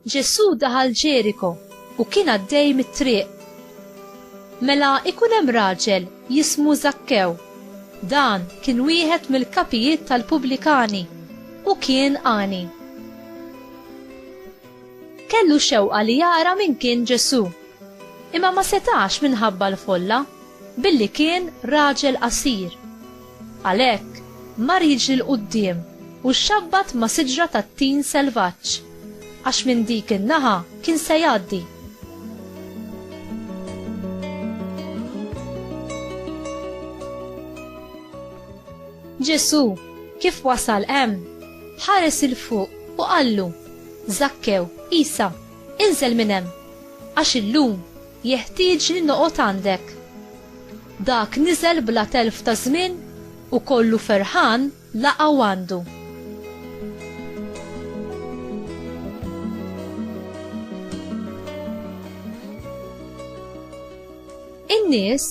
Ġesù daħal Ġeriko u kien għaddej mit-triq. Mela ikun hemm raġel jismu Zakkew. Dan kien wieħed mill-kapijiet tal-pubblikani u kien għani. Kellu xewqa li jara min kien Ġesù. Imma ma setax minħabba l-folla, billi kien raġel qasir. Għalhekk, mar jiġri 'l quddiem u xxabbat ma' siġra tat-tin selvaġġ, għax minn dik in-naħa kien se jgħaddi. Ġesù, kif wasal hemm, ħares 'il fuq u qallu. Żakkew, Isa, inżel minn hemm, għax illum jeħtieġni noqgħod għandek. Dak niżel bla telf ta' żmien u kollu ferħan laqgħu għandu. In-nies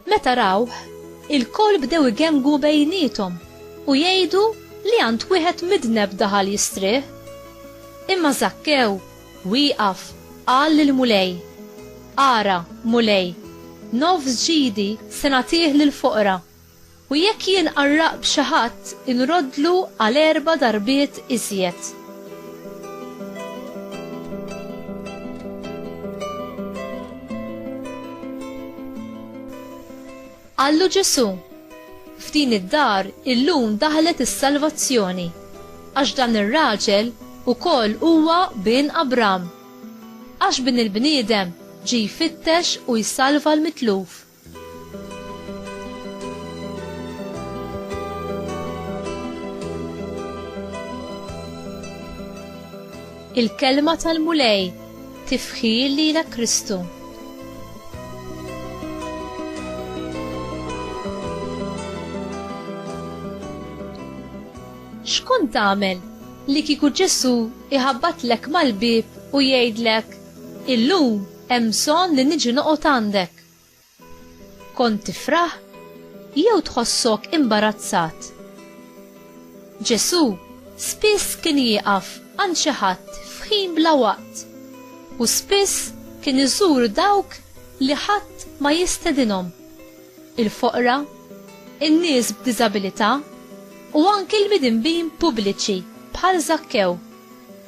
Meta rawh, ilkoll bdew igengwu bejniethom u jgħidu li għand wieħed midneb daħal jistrieħ. Imma Żakkew wieqaf qal lill-Mulej, Ara, Mulej, nofs ġidi se nagħtih lill-foqra, U jekk jien qarraq b'xi ħadd, inroddlu għal erba' darbiet iżjed. Qallu Ġesù, F'din id-dar illum daħlet is-salvazzjoni, għax dan ir-raġel ukoll huwa bin Abram. Għax Bin il-Bniedem ġie jfittex u jsalva l-mitluf. Il-kelma tal-Mulej tifħir lilek Kristu. X'kont tagħmel li kieku Ġesu iħabbatlek mal-bieb u jgħidlek, "Illum hemm bżonn li niġi noqgħod għandek." Kont tifraħ jew tħossok imbarazzat? Ġesù spiss kien jieqaf għand xi ħadd f'ħin bla waqt u spiss kien iżur dawk li ħadd ma jistedinhom, il-foqra, in-nies b'diżabilità u anki l-midinbin pubbliċi bħal Żakkew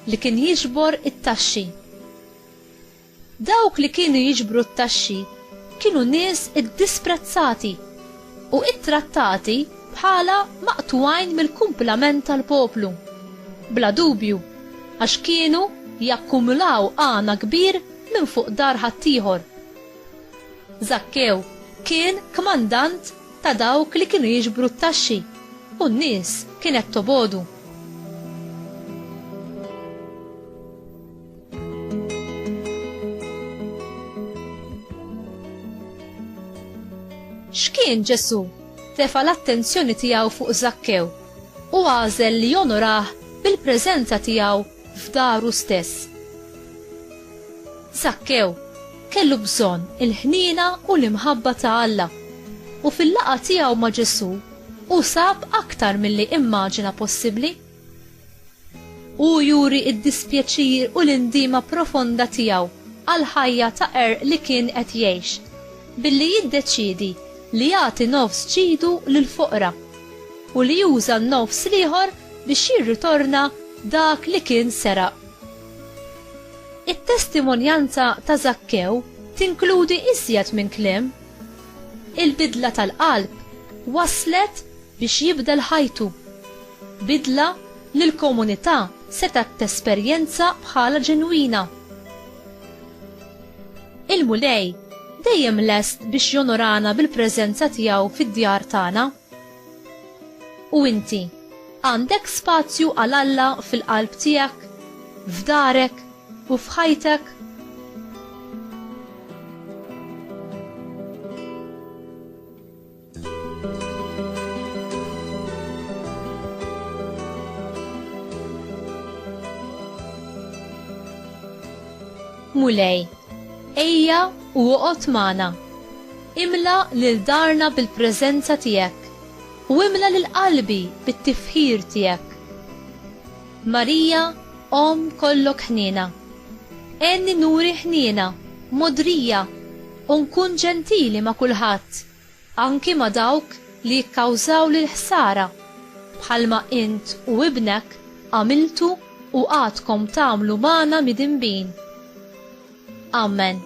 li kien jiġbor it-taxxi. Dawk li kienu jiġbru t-taxxi kienu nies iddisprezzati u ittrattati bħala maqtugħin mill-kumplament tal-poplu. Bla dubju, għax kienu jakkumulaw għana kbir minn fuq dar ħaddieħor. Żakkew kien kmandant ta' dawk li kienu jiġbru t-taxxi u n-nies kienet tobogħdu. X'kien Ġesù? Tefa' l-attenzjoni tiegħu fuq Żakkew u għażel li jonorah bil-preżenza tiegħu f'daru stess. Żakkew kellu bżonn il-ħniena u l-imħabba ta' Alla u fil-laqgħa tiegħu ma' Ġesù hu sab aktar milli immaġina possibbli. Hu juri d-dispjaċir u l-indiema profonda tiegħu għall-ħajja ta' qerq li kien qed jgħix, billi jiddeċiedi li jagħti nofs ġidu lill-foqra u li juża n-nofs l-ieħor biex jirritorna dak li kien seraq. It-testimonjanza ta' Żakkew tinkludi iżjed minn kliem. Il-bidla tal-qalb wasslet biex jibdel ħajtu, bidla li l-komunità setgħet tesperjenza bħala ġenwina. Il-Mulej dejjem lest biex jonorana bil-preżenza tiegħu fid-djar tagħna. U inti, għandek spazju għal Alla fil-qalb tiegħek, f'darek, u f'ħajtek? Mulej, ejja u oqgħod magħna. Imla lil darna bil-preżenza tiegħek u imla lil qalbi bit-tifħir tiegħek. Marija, Om kollok ħniena. Enni nuri ħniena, modrija, u nkun ġentili ma' kulħadd. anki ma' dawk li jikkawżawli l-ħsara, bħalma int u ibnek għamiltu u għadkom tagħmlu magħna midinbin. Amen.